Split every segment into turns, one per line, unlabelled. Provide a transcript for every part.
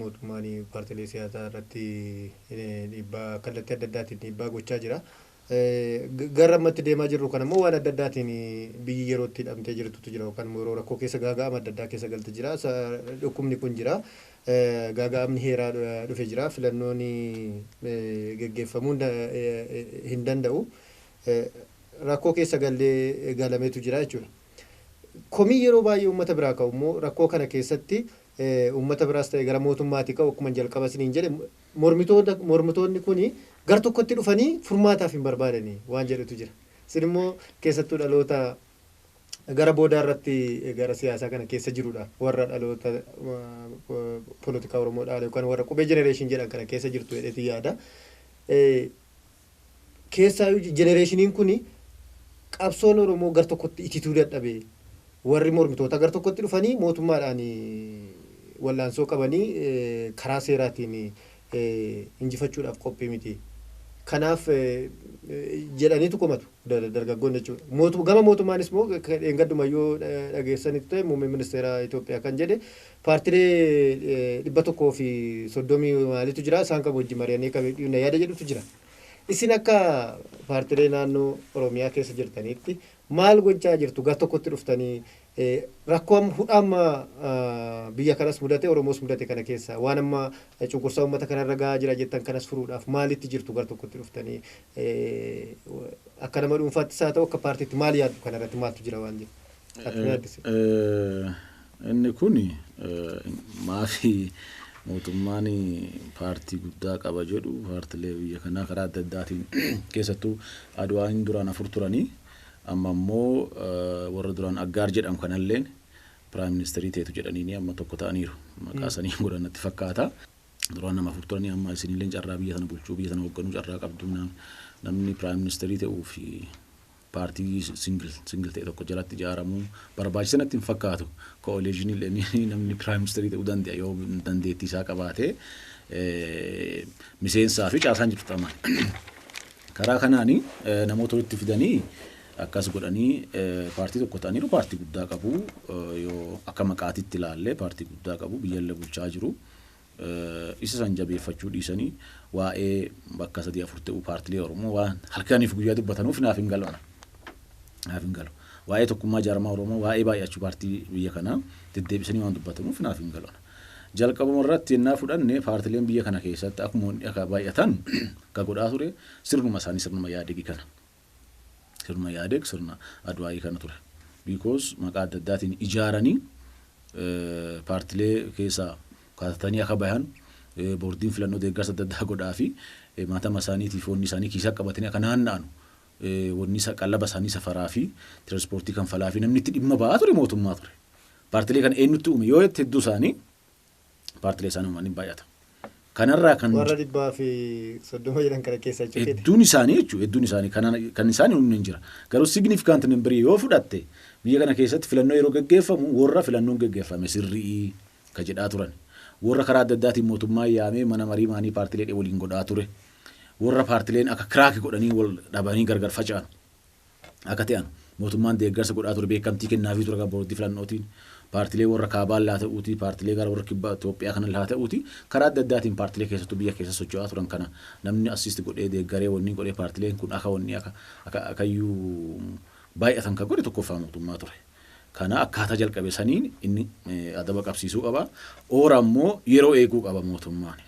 mootummaan paartilee siyaasaa irratti dhiibbaa kallattii adda addaatiin dhiibbaa gochaa jira. Gara amma itti deemaa jirru kana immoo waan adda addaatiin biyyi yeroo itti hidhamtee jirtutu jira yookaan immoo yeroo rakkoo keessa gaaga'ama adda addaa keessa galte jira. Dhukkubni kun jira. Gaaga'amni heeraa dhufe jira. Filannoon geggeeffamuu hin danda'u. Rakkoo keessa gallee galametu jira jechuudha. Komii yeroo baay'ee uummata biraa ka'u immoo rakkoo kana keessatti uummata biraas ta'e gara mootummaati ka'u akkuma jalqaba isiniin jedhe Mormitoota, mormitoonni kuni gar tokkotti dhufanii furmaataaf hin barbaadani waan jedhutu jira. Isin immoo keessattuu dhaloota gara boodaa irratti gara siyaasaa kana keessa jirudha. Warra dhaloota polotikaa Oromoo dhaale yookaan warra qubee generation jedhan kana keessa jirtu jedheetiin yaada. Keessaayu jenereeshiniin kun qabsoon Oromoo gar tokkotti itituu dadhabe. Warri mormitootaa gar tokkotti dhufanii mootummaadhaan wal'aansoo qabanii karaa seeraatiin injifachuudhaaf qophii miti. Kanaaf jedhaniitu komatu dargaggoonni jechuudha. Gama mootummaanis immoo dheengaddumayyuu dhageessaniittu ta'e muummeen ministeeraa Itoophiyaa kan jedhe Paartilee 130 maaliitu jira, isaan kam wajjin mari'annee akka miidhuu hinna yaada jedhutu jira. Isin akka paartilee naannoo Oromiyaa keessa jirtaniitti maal gochaa jirtu? Gar tokkotti dhuftanii rakkoo amma hudha amma biyya kanas mudate Oromoos mudate kana keessa waan amma cunqursaa uummata kanarra gahaa jira jettan kanas furuudhaaf maalitti jirtu gar tokkotti dhuftanii akka nama dhuunfaattis haa ta'u akka paartiitti maal yaaddu kanarratti maaltu jira waan jedhu? Ati mee addisi.
Inni kun maafi mootummaan paartii guddaa qaba jedhu paartilee biyya kanaa karaa adda addaatiin keessattuu Adwaain duraan afur turanii amma immoo warra duraan Aggaar jedhamu kanalleen Piraayim Ministeerii teetu jedhaniini amma tokko ta'aniiru. Maqaa sanii hin godhan natti fakkaata. Duraan nama afur turanii amma isinilleen carraa biyya tana bulchuu biyya tana hoogganuu carraa qabdu namni Piraayim Ministeerii ta'uu fi paartii singil singil ta'e tokko jalatti ijaaramu barbaachisa natti hin fakkaatu. Ko'oleeshinii illee namni piraayim ministeerii ta'uu danda'a yoo dandeettii isaa qabaate miseensaa fi caasaan jiru xaxama. Karaa kanaan namoota walitti fidanii akkas godhanii paartii tokko ta'aniiru paartii guddaa qabu yoo akka maqaatitti ilaalle paartii guddaa qabu biyyallee bulchaa jiru. Isa san jabeeffachuu dhiisanii waa'ee bakka sadii afur ta'uu paartilee Oromoo waan halkaniif guyyaa dubbatanuuf naaf hin galu ana. Naaf hin galu. Waa'ee tokkummaa jaarmaa Oromoo, waa'ee baay'achuu paartii biyya kanaa deddeebisanii waan dubbatanuuf naaf hin galu ana. Jalqabuma irratti yennaa fudhanne paartileen biyya kana keessatti akkuma akka baay'atan ka godhaa ture sirnuma isaanii sirnuma Ihaadegi kana. Sirna Ihaadeg sirna Adwaayii kana ture. Because maqaa adda addaatiin ijaaranii paartilee keessaa katatanii akka bahan boordiin filannoo deeggarsa adda addaa godhaafi matama isaaniitiif wanni isaanii kiisaa qabatanii akka naanna'anu wanni isa qallaba isaanii safaraa fi tiraanspoortii kanfalaa fi namni itti dhimma ba'aa ture mootummaa ture. Paartilee kana eenyutti uume yoo jette hedduu isaanii paartilee isaanii uumanii baay'ata. Kanarraa kan Warra dhibbaa fi
soddoma jedhan kana keessa jechuudha. hedduun isaanii jechuudha hedduun
isaanii kan, kan isaanii humni hin jira. Garuu significant number yoo fudhatte biyya kana keessatti filannoo yeroo gaggeeffamu warra filannoon gaggeeffame sirrii ka jedhaa turan. Warra karaa adda addaatiin mootummaa yaamee mana marii maanii paartilee waliin godhaa ture. Warra paartileen akka kiraaki godhanii wal dhabanii gargar faca'an. akka te'an mootummaan deeggarsa godhaa ture beekkamtii kennaafii ture akka boordii filannootiin paartilee worra kaabaan laa ta'uutii paartilee gara worra kibba Itoophiyaa kana laa ta'uutii karaa adda addaatiin paartilee keessattuu biyya keessa socho'aa turan kana namni assist godhee deeggaree wanni godhee paartileen kun akka wanni akka akka akayyuu baay'atan kan godhe tokkoffaa mootummaa ture. Kana akkaataa jalqabe saniin inni adaba qabsiisuu qaba. Oora immoo yeroo eeguu qaba mootummaan.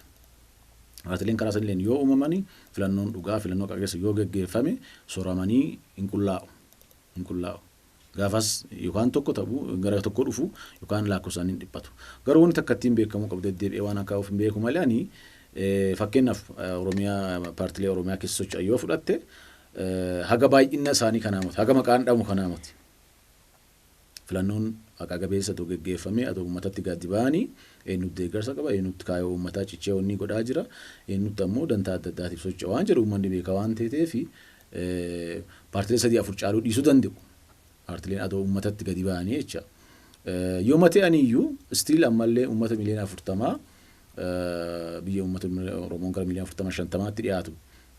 Paartileen karaa sanileen yoo uumamani filannoon dhugaa, filannoo haqa qabeessa yoo geggeeffame soramanii hin qullaa'u. Hin qullaa'u. Gaafas yookaan tokko ta'u gara tokko dhufu yookaan laakkofsaan hin dhiphatu. Garuu wanti takka ittiin beekamuu qabu deddeebi'ee waan akka of hin beeku malee ani fakkeenyaaf Oromiyaa paartilee Oromiyaa keessa socho'an yoo fudhatte haga baay'inna isaanii kanaa miti. Haga maqaan dhamu kanaa miti. filannoon haqaa gabeessa otoo geggeeffamee atoo ummatatti gadi ba'anii eenyuutti deeggarsa qaba, eenyuutti kaayoo ummataa cichee onnii godhaa jira, eenyuutti ammoo dantaa adda addaatiif socho'a waan jedhu ummanni beeka waan teeteef paartilee sadii afur caaluu dhiisuu danda'u. Paartileen atoo ummatatti gadi ba'anii jecha. Yooma ta'aniyyuu still ammallee ummata miliyoona afurtamaa biyya ummata Oromoon gara miliyoona afurtama shantamaatti dhiyaatu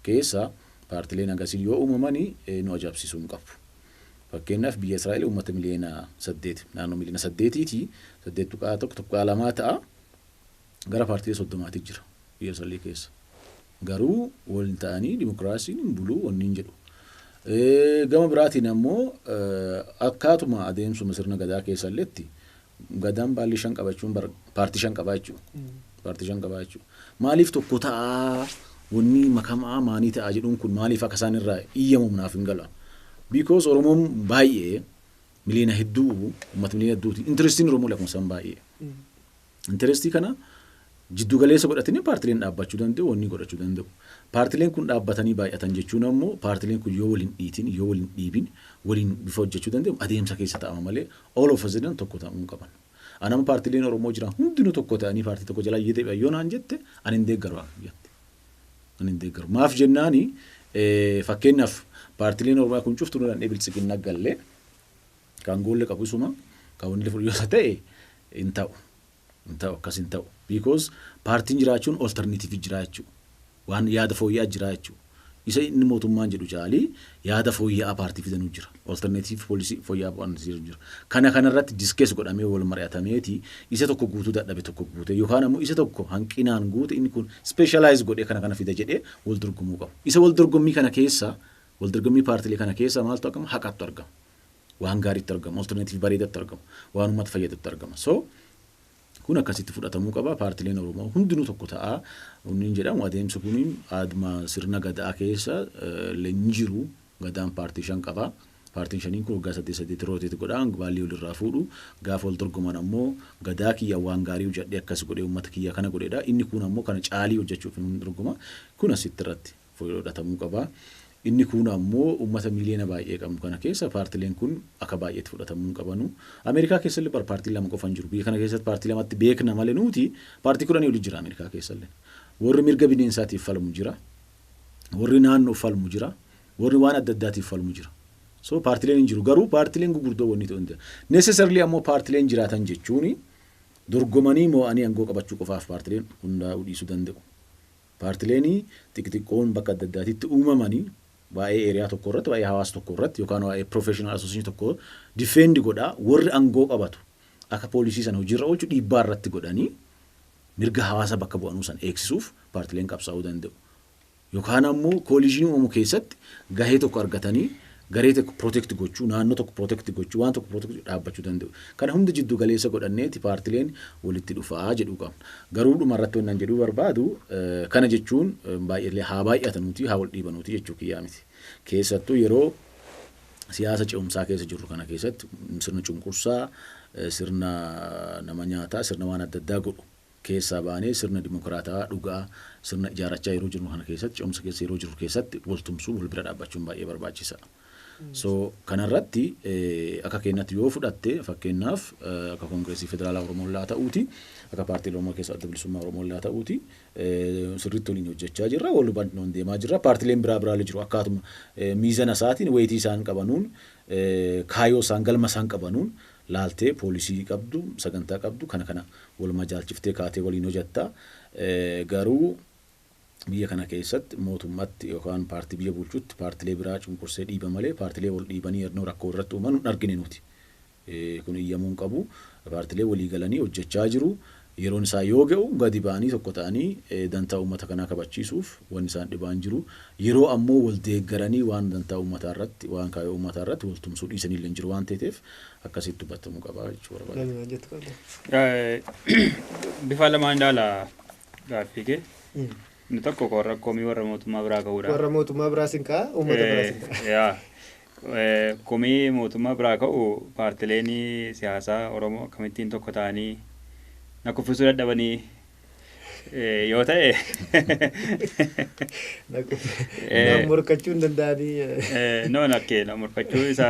keessa paartileen agasii yoo uumamanii nu ajaa'ibsiisuu hin qabu. Fakkeenyaaf biyya Israa'el uummata miliyoona 8, naannoo miliyoona 8 ti, 8.1, 2 ta'a. Gara paartilee 30 ti jira biyya Israa'el keessa. Garuu waliin ta'anii dimokiraasiin hin bulu wanniin jedhu. Gama biraatiin ammoo akkaatuma adeemsuma sirna gadaa keessalletti Gadaan baalli shan qabachuun bar paartii shan qabaa jechuudha. Paartii shan qabaa jechuudha. Maaliif tokko ta'aa wanni makamaa maanii ta'aa jedhuun kun maaliif akka isaan irraa iyyamuuf naaf hin gala. Because Oromoon baay'ee miliyoona hedduu uummata miliyoona hedduuti. Intirestiin Oromoo lakkoofsaan baay'ee. Intirestii kana jiddu galeessa godhatanii paartileen dhaabbachuu danda'u, wannii godhachuu danda'u. Paartileen kun dhaabbatanii baay'atan jechuun ammoo paartileen kun yoo wal hin dhiitin, yoo wal hin dhiibin waliin bifa hojjachuu danda'u adeemsa keessa ta'ama malee all of a sudden tokko ta'uu hin qaban. An amma paartileen Oromoo jiran hundinuu tokko ta'anii paartii tokko jalaa yoo deebi'an yoo naan jette an hin deeggaru an jette. An hin deeggaru. Maaf jennaani fakkeenyaaf paartileen Oromiyaa kun cuftu nu dandhee biltsiginna gallee kan goolle qabu isuma kan wanni fudhu yoo ta'e hin ta'u. Hin ta'u akkas hin ta'u because paartiin jiraachuun alternative jiraa jechuu waan yaada fooyya'aa jiraa jechuu isa inni mootummaan jedhu caalii yaada fooyya'aa paartii fidanuu jira alternative policy fooyya'aa waan jiru jira kana kana irratti discuss godhamee wal mari'atameeti isa tokko guutuu dadhabe tokko guutee yookaan ammoo isa tokko hanqinaan guute inni kun specialize godhee kana kana fida jedhee wal dorgomuu qabu isa wal dorgommii kana keessa wal dorgommii paartilee kana keessa maaltu argama haqatu argama waan gaariitti argama alternative bareedatti argama waan uummata fayyadatti argama so kun akkasitti fudhatamuu qaba paartileen oromoo hundinuu tokko ta'a hundiin jedhamu adeemsi kun aadma sirna gadaa keessa hin jiru gadaan paartii shan qaba paartiin shaniin kun waggaa saddeet saddeet rooteet godha baallii walirraa fuudhu gaafa wal dorgoman ammoo gadaa kiyya waan gaarii hojjadhee akkas godhee uummata kiyya kana godheedha inni kun ammoo kana caalii hojjechuuf hin dorgoma kun asitti irratti fudhatamuu qaba. Inni kuun ammoo ummata miiliyoona baay'ee qabnu kana keessa paartileen kun aka baay'eetti fudhatamuu hin qabanu. Ameerikaa keessallee bar paartiin lama qofa hin jiru. Biyya kana keessatti paartii lamatti beekna male nuuti paartii kudhanii oli jira Ameerikaa keessallee. Warri mirga bineensaatiif falmu jira. Warri naannoof falmu jira. Warri waan adda addaatiif falmu jira. So paartileen hin jiru. Garuu paartileen gugurdoo wanni ta'u hin jira. Necessarily ammoo paartileen jiraatan jechuun dorgomanii moo'anii angoo qabachuu qofaaf paartileen hundaa'uu dhiisuu danda'u. Paartileeni xixiqqoon bakka adda addaatitti uumamani waa'ee area tokko irratti, waa'ee hawaasa tokko irratti yookaan waa'ee professional association tokko defend godha. Warri angoo qabatu akka policy sana hojii irra oolchu dhiibbaa irratti godhani mirga hawaasa bakka bu'anuu sana eegsisuuf paartileen qabsaa'uu danda'u. Yookaan ammoo coalition uumamu keessatti gahee tokko argatani garee tokko protect gochuu, naannoo tokko protect gochuu, waan tokko protect gochuu dhaabbachuu danda'u. Kana hunda jiddu galeessa godhanneeti paartileen walitti dhufaa jedhuu qabna. Garuu dhuma irratti wannan jedhuu barbaadu kana jechuun baay'eellee haa baay'atanuuti haa wal dhiibanuuti jechuu kiyyaa miti. Keessattuu yeroo siyaasa ce'umsaa keessa jirru kana keessatti sirna cunqursaa, sirna nama nyaataa, sirna waan adda addaa godhu keessaa baanee sirna dimokiraatawaa dhugaa sirna ijaarachaa yeroo jirru kana keessatti ce'umsa keessa yeroo jirru keessatti wal tumsuun wal bira dhaabbachuun baay'ee barbaachisa. So kanarratti akka keenyatti yoo fudhatte fakkeenyaaf akka Koongireesii Federaalaa Oromoo illaa ta'uuti akka paartii Oromoo keessa adda bilisummaa Oromoo illaa ta'uuti sirriitti waliin hojjechaa jirra wal hubannoon deemaa jirra paartileen biraa biraallee jiru akkaatuma miizana isaatiin weetii isaan qabanuun kaayoo isaan galma isaan qabanuun laaltee poolisii qabdu, sagantaa qabdu kana kana wal majaalchiftee kaatee waliin hojatta. Garuu biyya kana keessatti mootummatti yookaan paartii biyya bulchutti paartilee biraa cunqursee dhiiba malee paartilee wal dhiibanii yadnoo rakko walirratti uuman hin argine nuti. Kun iyyamuu hin qabu. Paartilee walii galanii hojjachaa jiru. Yeroon isaa yoo ga'u gadi ba'anii tokko ta'anii dantaa uummata kanaa kabachiisuuf wanni isaan dhibaa hin jiru. Yeroo ammoo wal deeggaranii waan dantaa uummataa irratti, waan kaayoo uummataa irratti wal tumsuu dhiisan illee hin jiru waan teeteef akkasitti hubbatamuu qaba jechuu barbaade. Namni waan jettu qabda.
Bifaa lamaan ilaala gaaffii kee. Inni tokko warra komii warra mootummaa biraa ka'uudha. Warra mootummaa biraas hin
ka'a, uummata biraas hin ka'a. Yaa.
Komii mootummaa biraa ka'u paartileen siyaasaa Oromoo akkamittiin tokko ta'anii na kuffisuu dadhabanii yoo ta'e
Naan morkachuu hin danda'anii eh, no nakkee
na morkachuu isa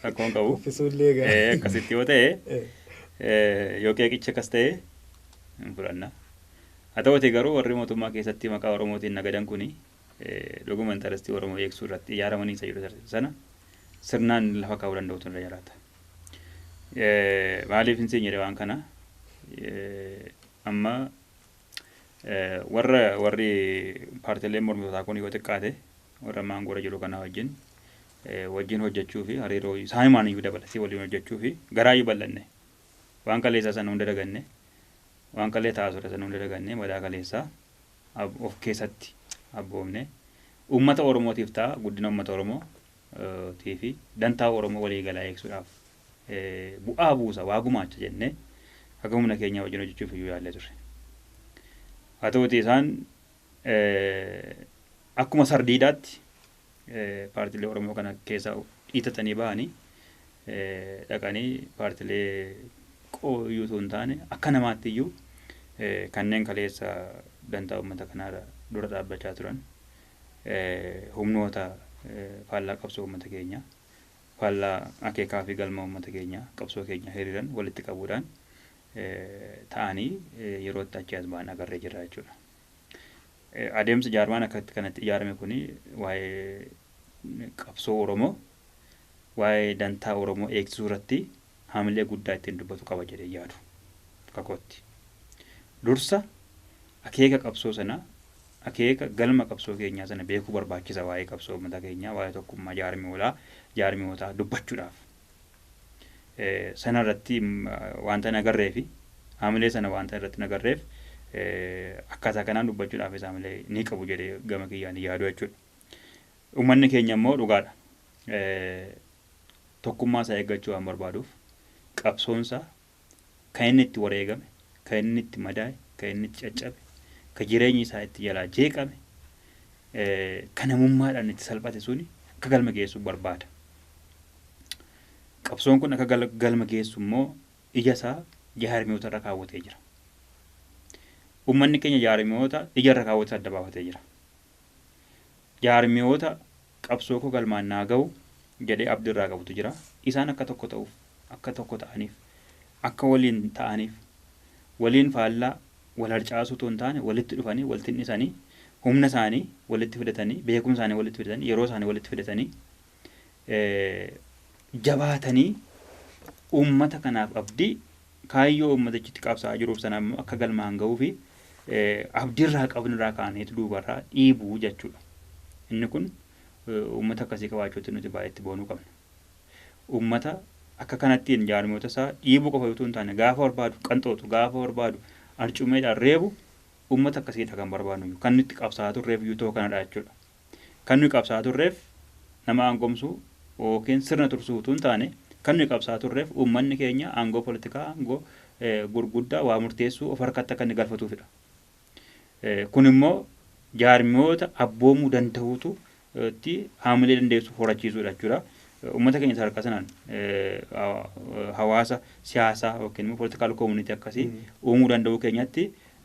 rakkoo hin qabu. kuffisuu illee Eh, egaa.
Akkasitti yoo ta'e Eh,
eh, yoo qeeqichi akkas ta'e hin fudhanna. Haa ta'uutii garuu warri mootummaa keessatti maqaa Oromootiin nagadan kuni dhuguma intarastii Oromoo eegsuu irratti ijaaramanii isa jedhu tarsiisu sana sirnaan lafa kaa'uu danda'utu irra jiraata. Maaliif hin seenyere waan kana amma warra warri paartileen mormitootaa kun yoo xiqqaate warra ammaan goora jiru kanaa wajjin wajjin hojjechuu fi hariiroo isaanumaan iyyuu dabala si waliin hojjechuu fi garaa iyyuu bal'anne waan kaleessaa sana hunda daganne waan kalee taasudha sana hunda daganne madaa kaleessaa abo of keessatti abboomne uummata Oromootiif ta'a, guddina uummata Oromoo tii fi dantaa Oromoo walii galaa eegsuudhaaf bu'aa buusa, waa gumaacha jennee haga humna keenyaa wajjin hojjechuuf iyyuu yaallee turre. Haa ta'uutii isaan akkuma sardiidaatti. paartilee Oromoo kana keessaa dhiitatanii bahanii dhaqanii paartilee qooyyuu osoo hin taane akka namaatti iyyuu kanneen kaleessa dantaa uummata kanaarra dura dhaabbachaa turan humnoota faallaa qabsoo uummata keenyaa faallaa akeekaa fi galma uummata keenyaa qabsoo keenya hiriiran walitti qabuudhaan ta'anii yerootti achi as ba'an agarree jirra jechuudha. Adeemsa jaarmaan akka itti kanatti ijaarame kun waa'ee qabsoo Oromoo waa'ee dantaa Oromoo eegsisuu irratti haamilee guddaa ittiin dubbatu qaba jedhee yaadu akka kootti. Dursa akeeka qabsoo sana akeeka galma qabsoo keenyaa sana beekuu barbaachisa waa'ee qabsoo uummata keenyaa waa'ee tokkummaa jaarmiyoolaa jaarmiyootaa dubbachuudhaaf. sana irratti wanta hin agarree fi haamilee sana wanta irratti hin agarreef akkaataa kanaan dubbachuudhaafis haamilee ni qabu jedhee gama kiyyaan hin yaadu jechuudha. Uummanni keenya immoo dhugaadha. Tokkummaa isaa eeggachuu waan barbaaduuf qabsoonsa Kan inni itti wareegame, kan inni itti madaa'e, kan inni itti caccabe, kan jireenyi isaa itti jalaa jeeqame, kan namummaadhaan itti salphate suni akka galma geessu barbaada. Qabsoon kun akka galma geessu immoo ija isaa jaarmiyoota irra kaawwatee jira. Uummanni keenya jaarmiyoota ija irra kaawwatee adda baafatee jira. Jaarmiyoota qabsookoo galmaan naa gahu jedhee abdi irraa qabutu jira. Isaan akka tokko ta'uuf, akka tokko ta'aniif, akka waliin ta'aniif, waliin faallaa wal harcaasuu utuu hin taane walitti dhufanii, wal tin'isanii, humna isaanii walitti fidatanii, beekumsa isaanii walitti fidatanii, yeroo isaanii walitti fidatanii, jabaatanii uummata kanaaf abdii kaayyoo uummatichi itti qabsaa'aa jiruuf sana immoo akka galmaan ga'uu fi abdiirraa qabnirraa kaaneetu duubarraa dhiibuu jechuudha. Inni kun uummata akkasii qabaachuutti nuti baay'ee itti boonuu qabna. Uummata akka kanattiin jaarmiyoota isaa dhiibuu qofa utuu hin taane gaafa barbaadu qanxootu gaafa barbaadu arcumeedhaan reebu uummata akkasiidha kan barbaadnu kan nutti qabsaa'aa turreef iyyuu ta'uu kanadha jechuudha. Kan nuyi qabsaa'aa turreef nama aangomsu ykn sirna tursuu utuu hin taane, kan nuyi qabsaa'aa turreef uummanni keenya aangoo politikaa, aangoo gurguddaa waa murteessuu of harkatti akka inni galfatuufidha. Kun immoo jaarmiyoota abboomuu danda'uutu tti haamilee dandeessu horachiisuudha jechuudha. Uummata keenya sadarkaa sanaan hawaasa siyaasaa ykn immoo political community akkasii uumuu danda'uu keenyatti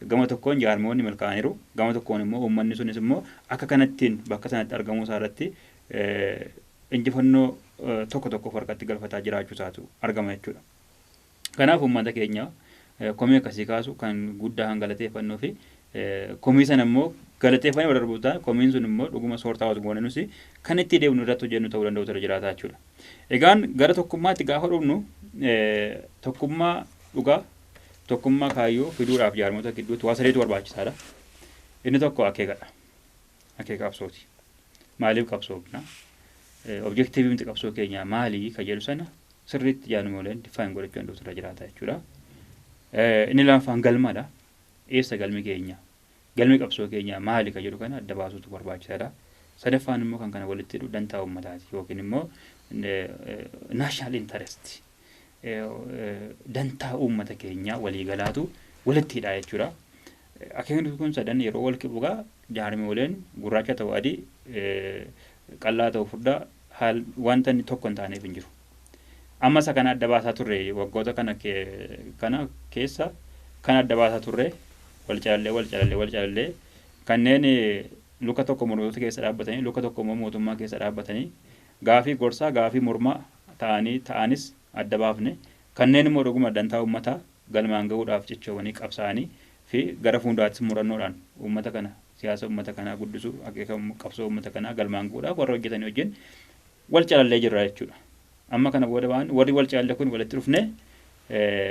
Gama tokkoon jaarmayoonni milkaa'aniiru, gama tokkoon immoo uummanni sunis immoo akka kanattiin bakka sanatti argamuu isaa irratti injifannoo tokko tokko of harkatti galfataa jiraachuu isaatu argama jechuu dha. Kanaaf uummata keenya komii akkasii kaasu kan guddaa kan galateeffannuu fi komii sana immoo galateeffannee bira darbuuf taane komiin sun immoo dhuguma soortaa waas goone nusi kan itti deemnu irratti hojjennu ta'uu danda'u ture jiraataa jechuudha. Egaan gara tokkummaatti gaafa dhufnu tokkummaa dhugaa Tokkummaa kaayyoo fiduudhaaf jaarmota gidduutti waa sadeetu barbaachisaadha. Inni tokko akeekadha. Akeeka qabsooti. Maaliif qabsoofna? Objektiivii miti qabsoo keenyaa maali kan jedhu sana sirriitti jaarmooleen difaayin godhachuu danda'utu irra jiraata jechuudha. Inni lammaffaan galmadha. Eessa galmi keenya? Galmi qabsoo keenyaa maali kan jedhu kana adda baasuutu barbaachisaadha. Sadaffaan immoo kan kana walitti hidhu dantaa uummataati yookiin immoo national interest. dantaa uummata keenyaa waliigalaatu walitti hidhaa jechuudha. Akeekni kun sadan yeroo wal qibu egaa jaarmiyooleen gurraacha ta'u adii qal'aa ta'u furdaa haal wanta inni tokko hin taaneef hin jiru. Amma isa kana adda baasaa turre waggoota kana kana keessa kan adda baasaa turre wal calallee wal calallee wal calallee kanneen luka tokko mormitoota keessa dhaabbatanii luka tokko immoo mootummaa keessa dhaabbatanii gaafii gorsaa gaafii mormaa ta'anii ta'anis adda baafne, kanneen immoo dhuguma dantaa uummataa galmaan gahuudhaaf cichoomanii qabsaa'anii fi gara fuunduraattis murannoodhaan uummata kana, siyaasa uummata kanaa guddisuu, akeeka qabsoo uummata kanaa galmaan gahuudhaaf warra hojjetanii wajjin wal calallee jirra jechuudha. Amma kana booda waan warri wal calalle kun walitti dhufnee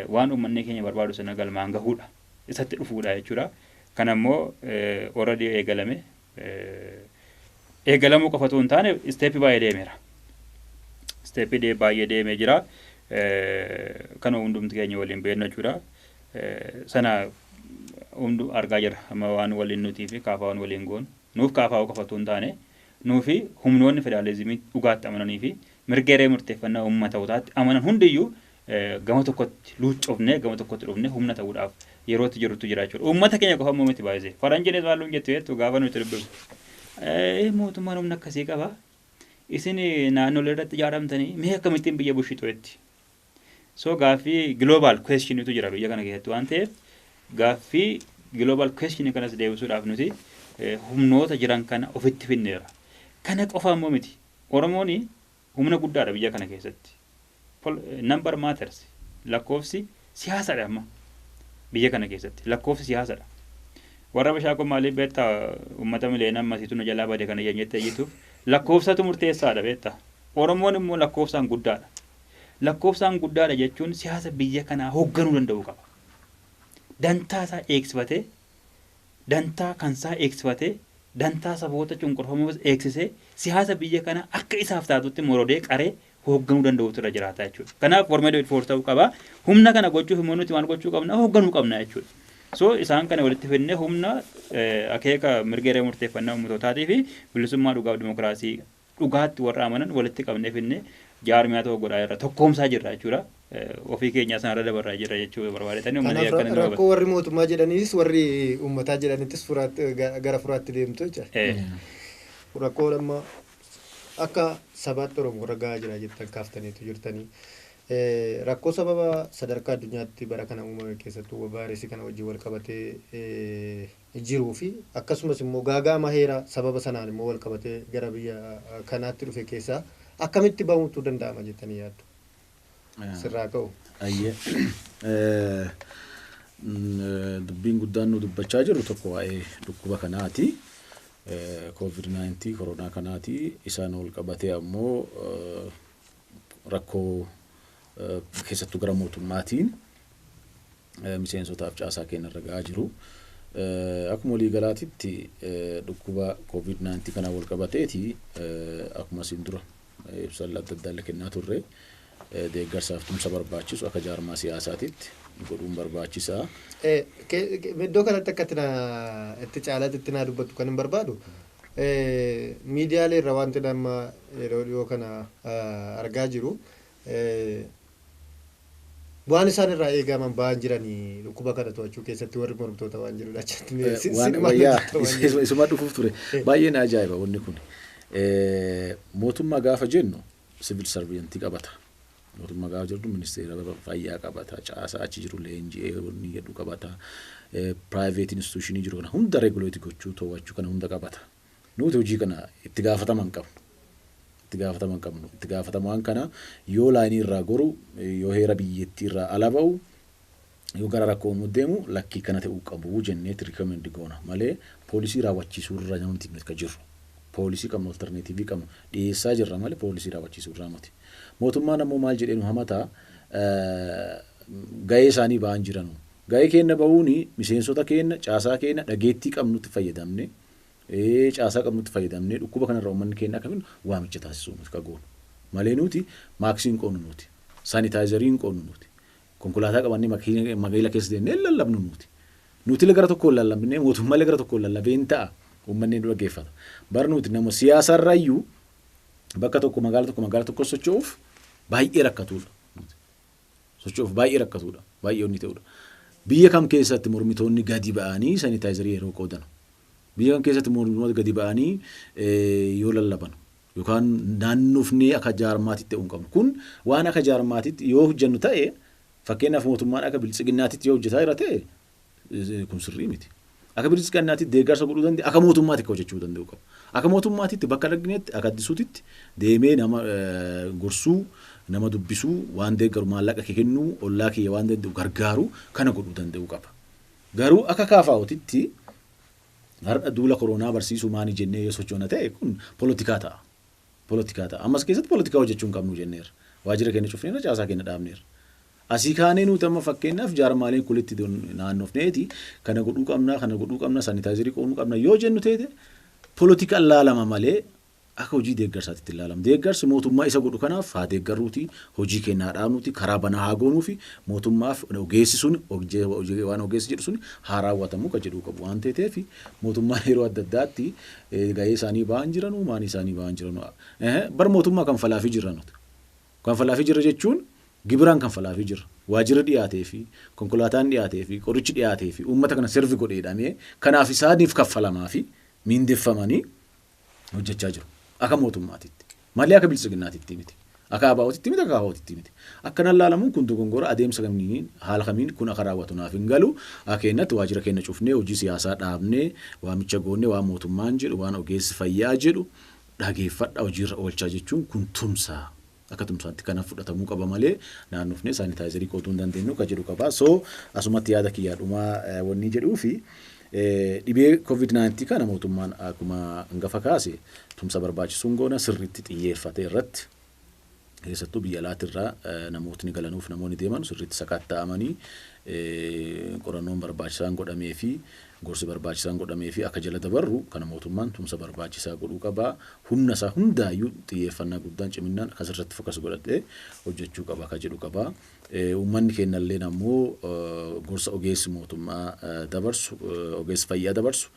waan uummanni keenya barbaadu sana galmaan gahuudha. Isatti dhufuudha jechuudha. Kana immoo already eegalame eegalamuu qofa utuu hin taane isteeppii baay'ee deemeera. Isteeppii dee- baay'ee deemee jira. Eh, Kanuma hundumti keenya waliin beeknu jechuudha. Eh, Sana hundu argaa jirra. Amma waan waliin nutii fi kaafaawwan waliin goonu. Nuuf kaafaawuu qofa utuu hin taane nuufi humnoonni federaalizimii dhugaatti amananii fi mirga hiree murteeffannaa uummatootaatti amanan hundiyyuu gama tokkotti luuccofnee gama tokkotti dhufnee humna ta'uudhaaf yeroo itti jirrutu jira jechuudha. Uummata keenya qofa immoo miti baay'isee. Faranjiinis maal nuun jettu jettu gaafa nuti dubbifnu. Eh, mootummaan humna akkasii qaba. Isin eh, naannolee irratti ijaaramtanii mee akkamittiin biyya bushitu jetti. So gaaffii global question tu jira biyya kana keessatti waan ta'eef gaaffii global question kanas deebisuudhaaf nuti eh, humnoota jiran kana ofitti finneera. Kana qofa immoo miti. Oromoon Humna guddaadha biyya kana keessatti. Pol number matters. Lakkoofsi siyaasadha amma biyya kana keessatti. Lakkoofsi siyaasadha. Warra Abashaa koo maaliif beektaa uummata miliyoona ammasiitu nu jalaa bade kana jennee iyyituuf lakkoofsatu murteessaadha beektaa. Oromoon immoo lakkoofsaan guddaadha. Lakkoofsaan guddaadha jechuun siyaasa biyya kanaa hoogganuu danda'uu qaba. Dantaa isaa eegsifatee dantaa kansaa eegsifatee, dantaa saboota cunqurfamoos eegsisee, siyaasa biyya kanaa akka isaaf taatutti morodee, qaree hoogganuu danda'uutu irra jiraata jechuudha. Kanaaf for made for ta'uu qaba. Humna kana gochuuf immoo nuti maal gochuu qabna? Hoogganuu qabna jechuudha. So isaan kana walitti fidnee humna akeeka mirga hiree murteeffannaa uummatootaatiifi bilisummaa dhugaaf dimokiraasii dhugaatti warra amanan walitti qabnee finne jaarmiyaa tokko godhaa jirra tokkoomsaa jirra jechuudha ofii keenyaa sanarra dabarraa jirra jechuu barbaadetanii uummanni Kanaaf akkana nu rakkoo qabate. warri mootummaa
jedhaniis warri uummataa jedhanittis furaatti- ga- gara furaatti deemtu jecha. Eh, Rakkoon amma akka sabaatti Oromoo irra gahaa jira jettan kaaftaniitu jirtanii. Eh, Rakkoo sababa sadarkaa addunyaatti bara kana uumame keessattuu vaayirasii kana wajjin wal qabatee eh, jiruu fi akkasumas immoo gaaga'ama heera sababa sanaan immoo walqabatee gara biyya kanaatti dhufe keessaa akkamitti bahuutu danda'ama jettanii yaaddu? Sirraa ka'u. Ayyee.
Dubbiin guddaan nu dubbachaa jirru tokko waa'ee dhukkuba kanaati. Koovid 19 koronaa kanaati. Isaan wal qabatee ammoo rakkoo keessattuu gara mootummaatiin miseensotaaf caasaa keenya irra ga'aa jiru. Akkuma walii galaatitti dhukkuba covid 19 kanaan wal qabateeti akkuma isin dura ibsa adda addaa illee kennaa turre deeggarsaaf tumsa barbaachisu akka jaarmaa siyaasaatitti godhuun barbaachisaa.
Iddoo kanatti akka itti naa- itti caalaatti itti naa dubbattu kan hin barbaadu miidiyaalee irra wanti amma yeroo dhiyoo kana ah, argaa jiru waan isaan irraa eegaaman ba'aan jirani dhukkuba kana to'achuu keessatti warri mormtoota waan jedhu achatti mee si- waan siqmaan wayyaa hojjetta waan jedhu.
isuma- isuma dhufuuf ture baay'ee na ajaa'iba wanni kun mootummaa gaafa jennu sivil sarviyantii qabata mootummaa gaafa jennu ministeera fayyaa qabata caasaa achi jiru leenji'ee wanni jedhu qabata piraayiveet instituushinii jiru kana hunda reeguleeti gochuu to'achuu kana hunda qabata Nuuti hojii kana itti gaafatama hin qabnu. Itti gaafatama hin qabnu. Itti gaafatamaan kana yoo laayinii irraa goru, yoo heera biyyattii irraa ala ba'u, yoo gara rakkoo uumuu deemu lakkii kana ta'uu qabu jenneeti recommend goona malee poolisii raawwachiisuu irra miti nuti kan jirru. Poolisii qabnu alternative qabnu dhiyeessaa jirra malee poolisii raawwachiisuu irraa miti. Mootummaan ammoo maal jedhee nu hamata gahee isaanii ba'an jiranu. Gahee keenna ba'uun miseensota keenna, caasaa keenna, dhageettii qabnutti fayyadamne caasaa qabnutti fayyadamnee dhukkuba kanarraa uummanni keenya akka fidnu waamicha taasisuu nuti ka goonu. Malee nuti maaksii hin qoodnu nuti. Saanitaayizarii hin qoodnu nuti. Konkolaataa qabannee magaila keessa deemnee hin lallabnu nuti. Nutile gara tokkoon lallabnee mootummaale gara tokkoon lallabee hin ta'a. Uummanni nu dhaggeeffata. Bar nuti nama siyaasaarraayyuu bakka tokko magaala tokko magaala tokko socho'uuf baay'ee rakkatuudha. socho'uuf baay'ee rakkatuudha, baay'ee onni ta'uudha. Biyya kam keessatti mormitoonni gadi ba'anii sanitaayizarii yeroo qoodanu? Biyya kam keessatti mormitoota gadi ba'anii yoo lallabanu? Yookaan naannofnee akka jaarmaatitti ta'uu hin qabnu. Kun waan akka jaarmaatitti yoo hojjennu ta'e fakkeenyaaf mootummaan akka biltsiginnaatitti yoo hojjetaa jira ta'e kun sirrii miti. Akka bilisiqannaatitti deeggarsa godhuu danda'e akka mootummaatti akka hojjechuu danda'u qaba. Akka mootummaatitti bakka dhagneetti akka addisuutitti deemee nama gorsuu nama dubbisuu waan deeggaru maallaqa kee kennuu ollaa kiyya waan danda'u gargaaru kana godhuu danda'u qaba. Garuu akka kaafaa'otitti har'a duula koroonaa barsiisuu maani jennee yoo sochoona ta'e kun polotikaa ta'a. polotikaa ta'a. Amma as keessatti polotikaa hojjechuu hin qabnu jenneerra. Waajjira keenya cufneerra, caasaa keenya dhaabneerra. Asii kaanee nuti amma fakkeenyaaf jaarmaaleen kulitti don- naannofneeti kana godhuu qabna, kana godhuu qabna, sanitaayizarii qooduu qabna yoo jennu teete polotikaan laalama malee akka hojii deeggarsaatti itti hin laalamu. Deeggarsi mootummaa isa godhu kanaaf haa deeggarruuti, hojii keenya haa dhaabnuuti, karaa banaa haa goonuufi mootummaaf ogeessi sun hojje- hojje- waan ogeessi jedhu sun haa raawwatamu ka jedhuu qabu waan teeteefi mootummaan yeroo adda addaatti Ee gahee isaanii bahaa hin jiranuu maanii isaanii bahaa hin jiranuu ehe bar mootummaa kanfalaafii jirra nuti kanfalaafii jirra jechuun gibiraan kanfalaafii jirra waajirri dhiyaateefii konkolaataan dhiyaateefii qorichi dhiyaateefii uummata kana servi godhe jedhamee kanaaf isaaniif kaffalamaafii miindeffamanii hojjechaa jiru aka mootummaatitti. Malee aka biltsiginnaatitti miti. Aka ABOtitti miti aka KFOtitti miti. Akkanan laalamuun kun dogongora adeemsa kamiiniin haala kamiin kun aka raawwatu naaf hin galu. Aka keennatti waajira keenna cufnee hojii siyaasaa dhaabnee waamicha goonne waan mootummaan jedhu waan ogeessi fayyaa jedhu dhageeffadha hojiirra oolchaa jechuun kun tumsa aka tumsaatti kanaf fudhatamuu qaba malee naannofnee saanitaayizarii qooduu hin dandeennu ka jedhu qaba. So asumatti yaada kiyyaa dhumaa wannii jedhuufi Dhibee Covid 19 kana mootummaan akkuma hangafa kaase tumsa barbaachisu hin goona, sirriitti xiyyeeffatee irratti keessattuu biyya alaati irraa namootni galanuuf namoonni deeman sirriitti sakatta'amanii qorannoon barbaachisaan godhamee fi gorsi barbaachisaan godhamee fi akka jala dabarru kana mootummaan tumsa barbaachisaa godhuu qaba. Humna isaa hundaayyuu xiyyeeffannaa guddaan ciminnaan kan sirriitti fokas godhatee hojjechuu qaba akka jedhu qaba. Uummanni keennalleen ammoo gorsa ogeessi mootummaa dabarsu, ogeessi fayyaa dabarsu,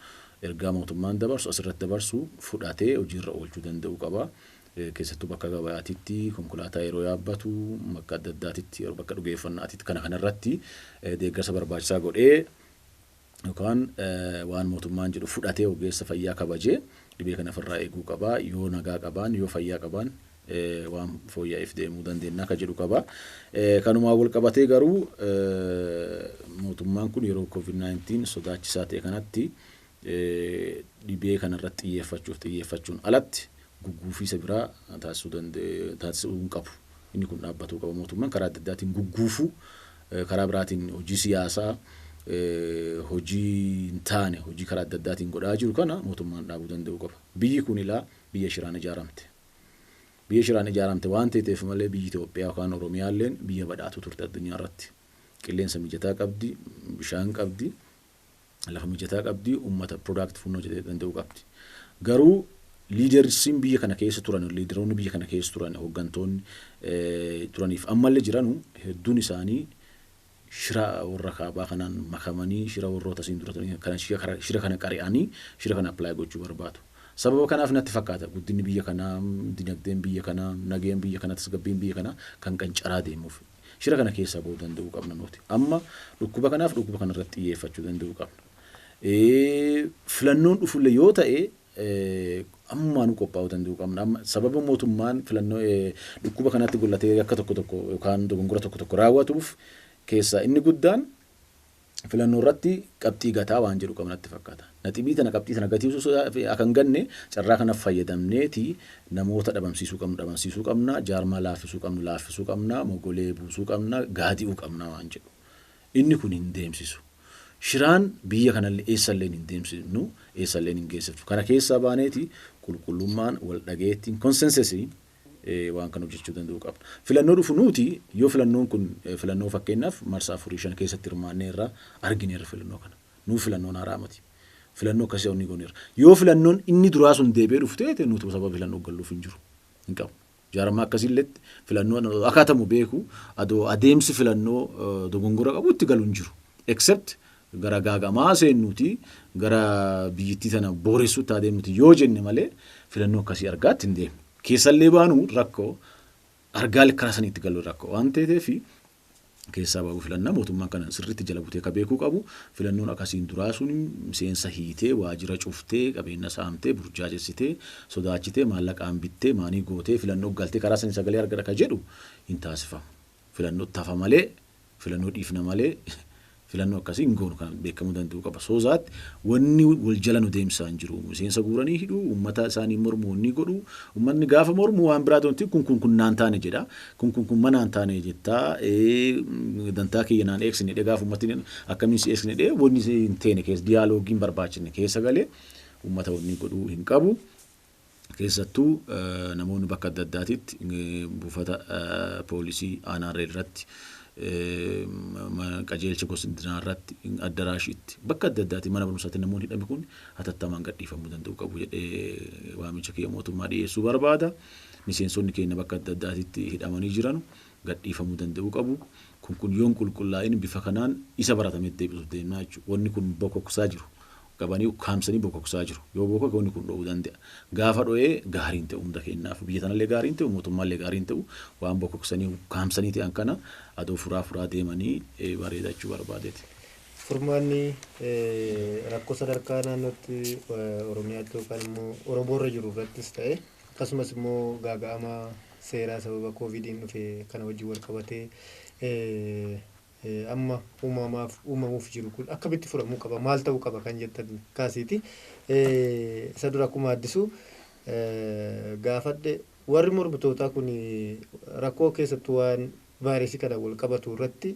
ergaa mootummaan dabarsu asirratti dabarsu fudhatee hojiirra oolchuu danda'uu qaba. Keessattuu bakka gabayaatitti konkolaataa yeroo yaabbatu, bakka adda addaatitti, bakka dhugeeffannaatitti kana kanarratti deeggarsa barbaachisaa godhee yookaan waan mootummaan jedhu fudhatee ogeessa fayyaa kabajee dhibee kana ofirraa eeguu qaba. Yoo nagaa qabaan, yoo fayyaa qabaan waan fooyya'eef deemuu dandeenya akka jedhu qaba. Kanumaan wal qabatee garuu mootummaan kun yeroo covid 19 sodaachisaa ta'e kanatti dhibee kanarratti xiyyeeffachuuf xiyyeeffachuun alatti gugguufiisa biraa taasisuu hin qabu. Inni kun dhaabbatuu qaba mootummaan karaa adda addaatiin gugguufuu Karaa biraatiin hojii siyaasaa hojii hin taane hojii karaa adda addaatiin godhaa jiru kana mootummaan dhaabuu danda'uu qaba. Biyyi kun ilaa biyya shiraan ijaaramte. Biyya shiraan ijaaramte waan teeteef malee biyyi Itoophiyaa yookaan Oromiyaalleen biyya badhaatuu turte addunyaa irratti. Qilleensa mijataa qabdi, bishaan qabdi, lafa mijataa qabdi, uummata product funnoo jedhee danda'u qabdi. Garuu liidersiin biyya kana keessa turan, liidaroonni biyya kana keessa turan, hooggantoonni turaniif ammallee jiranu hedduun isaanii shira warra kaabaa kanaan makamanii shira warroota asiin dura turanii kana shira kana- shira kana qari'anii shira kana apply gochuu barbaadu. Sababa kanaaf natti fakkaata guddinni biyya kanaa, dinagdeen biyya kanaa, nageen biyya kanaa, tasgabbiin biyya kanaa kan qancaraa deemuuf. Shira kana keessaa ba'uu danda'uu qabna nuti. Amma dhukkuba kanaaf dhukkuba kana irratti xiyyeeffachuu danda'uu qabna. Filannoon dhufullee yoo ta'e ammaanuu qophaa'uu danda'uu qabna. Amma sababa mootummaan filannoo dhukkuba kanatti gollatee akka tokko tokko yookaan dogongora tokko tokko raawwatuuf keessaa inni guddaan filannoorratti qabxii gataa waan jedhu qaba natti fakkaata. Naxibii tana qabxii tana gatiisuu sodaa fi akka hin ganne carraa kana fayyadamneeti namoota dhabamsiisuu qabnu dhabamsiisuu qabna, jaarmaa laaffisuu qabnu laaffisuu qabna, mogolee buusuu qabna, gaadi'uu qabna waan jedhu. Inni kun hin deemsisu. Shiraan biyya kanallee eessalleen hin deemsifnu, eessalleen hin geessifnu. Kana keessaa baaneeti qulqullummaan, wal dhageettiin, consensus, waan kana hojjechuu danda'uu qabna. Filannoo dhufu nuuti yoo filannoon kun filannoo fakkeenyaaf marsaa afurii shan keessatti hirmaannee irraa argineerra filannoo kana. Nuuf filannoon haaraa miti. Filannoo akkasii onni gooneerra. Yoo filannoon inni duraa sun deebi'ee dhufu ta'e nuutu sababa filannoo galluuf hin jiru. Hin qabu. Jaarmaa akkasiilletti filannoon akaatamu beeku adoo adeemsi filannoo dogongora qabu itti galu hin jiru. Except gara gaagamaa seennuuti, gara biyyittii tana booressuutti haa deemnuuti yoo jenne malee filannoo akkasii argaatti hin deemnu. Keessallee baanu rakko, argaallee karaa sanii itti gallu rakko waan teeteef keessaa ba'uu filanna. Mootummaan kana sirriitti jala butee ka beekuu qabu filannoon akkasiin duraa sun miseensa hiitee, waajira cuftee, qabeenna saamtee, burjaajessitee, sodaachitee, maallaqaan bittee, maanii gootee filannoo galtee karaa sanii sagalee argadha ka jedhu hin taasifamu. Filannootti hafa malee filannoo dhiifna malee filannoo akkasii hin goonu kan beekamuu danda'u qaba. So that wanni wal jala nu deemsaa hin jiru. Miseensa guuranii hidhu, uummata isaanii mormu wanni godhu, uummanni gaafa mormu waan biraa ta'utti kun kun kun naan taane jedha. Kun kun kun manaan taane jettaa ee, dantaa kiyya naan eegsine jedhee gaafa uummatni akkamiin si eegsine jedhee wanni hin teene keessa diyaaloogiin barbaachifne keessa galee uummata wanni godhu hin qabu. Keessattuu namoonni bakka adda addaatitti buufata poolisii Aanaarree irratti, qajeelcha Gosdinaa irratti, Addaraashiitti bakka adda addaatti mana barumsaatti namoonni hidhame kun hatattamaan gadhiifamuu danda'uu qabu jedhee waamicha kiyya mootummaa dhiyeessuu barbaada. Miseensonni keenya bakka adda addaatitti hidhamanii jiranu gadhiifamuu danda'uu qabu. Kun kun yoon qulqullaa'in bifa kanaan isa baratametti deebisuuf deemnaa jechuudha. Wanni kun bokoksaa jiru qabanii ukkaamsanii bokoksaa jiru. Yoo bokoke wanni kun dho'uu danda'a. Gaafa dho'ee gaarii hin ta'u hunda keenyaafuu. Biyya tanallee gaarii hin ta'u, mootummaallee gaarii hin ta'u. Waan bokoksanii ukkaamsanii ta'an kana adoo furaa furaa deemanii bareeda jechuu barbaadeeti. Furmaanni
rakkoo sadarkaa naannootti Oromiyaatti yookaan immoo Oromoo irra jiru irrattis ta'e akkasumas immoo gaaga'ama seeraa sababa kooviidiin dhufe kana wajjin wal qabatee Amma uumamaaf uumamuuf jiru kun akkamitti furamuu qaba? Maal ta'uu qaba kan jettan kaasiiti. Isa dura akkuma Addisu gaafadhe warri mormitootaa kun rakkoo keessattuu waan vaayirasii kanaan wal qabatu irratti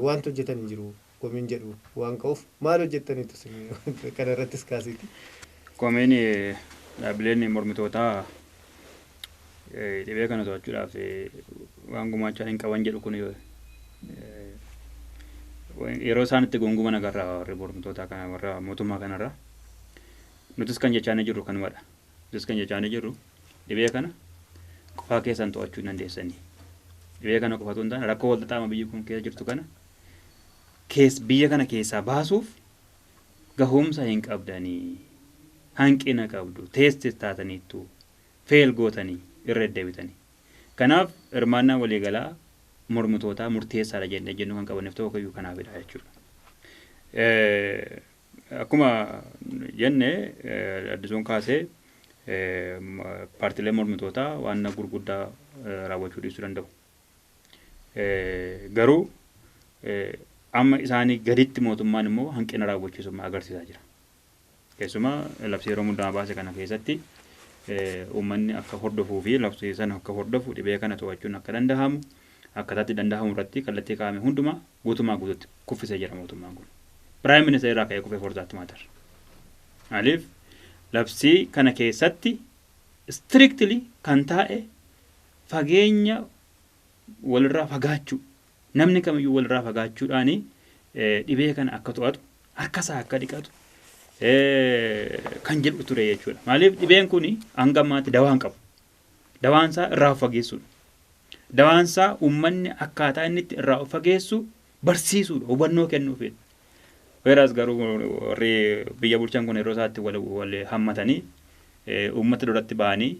waanti hojjetan hin jiru komiin jedhu waan ka'uuf maal hojjettaniitu isin kana irrattis kaasiiti. Komiin
dhaabbileen mormitootaa dhibee kana to'achuudhaaf waan gumaachaa hin qaban jedhu kun yeroo isaan itti gunguman agarra warri mormitoota kana warra mootummaa kanarra nutis kan jechaa ni jirru kanumadha nutis kan jechaa ni jirru dhibee kana qofaa keessan to'achuu hin dandeessanii dhibee kana qofatu hin taane rakkoo walxaxaama biyyi kun keessa jirtu kana kees biyya kana keessaa baasuuf gahumsa hin qabdanii hanqina qabdu teestis taataniittu fail gootanii irra deddebitanii. Kanaaf hirmaannaan waliigalaa mormitootaa murteessaadha jennee ejjennoo kan qabanneef tokko iyyuu kanaafidha jechuudha. Akkuma jenne Addisuun kaasee paartileen mormitootaa waan gurguddaa raawwachuu dhiisuu danda'u. Garuu amma isaanii gaditti mootummaan immoo hanqina raawwachiisummaa agarsiisaa jira. Keessumaa labsii yeroo muddamaa baase kana keessatti uummanni akka hordofuu fi labsii sana akka hordofu dhibee kana to'achuun akka danda'amu akkataatti danda'amu irratti kallattii kaa'ame hundumaa guutumaa guututti kuffisee jira mootummaan kun. Piraayim ministeera irraa ka'ee kufee forzaatti maatar. Maaliif labsii kana keessatti strictly kan taa'e fageenya walirraa fagaachuu Namni kamiyyuu walirraa fagaachuudhaan dhibee kana akka to'atu, harkasaa akka dhiqatu kan jedhu ture jechuudha. Maaliif dhibeen kun hanga ammaatti dawaa hin qabu. Dawaan isaa irraa of fageessuudha. Dawaan isaa uummanni akkaataa inni itti irraa of fageessu barsiisuudha, hubannoo kennuufidha. Weeraas garuu warri biyya bulchan kun yeroo isaatti wal hammatanii uummata duratti ba'anii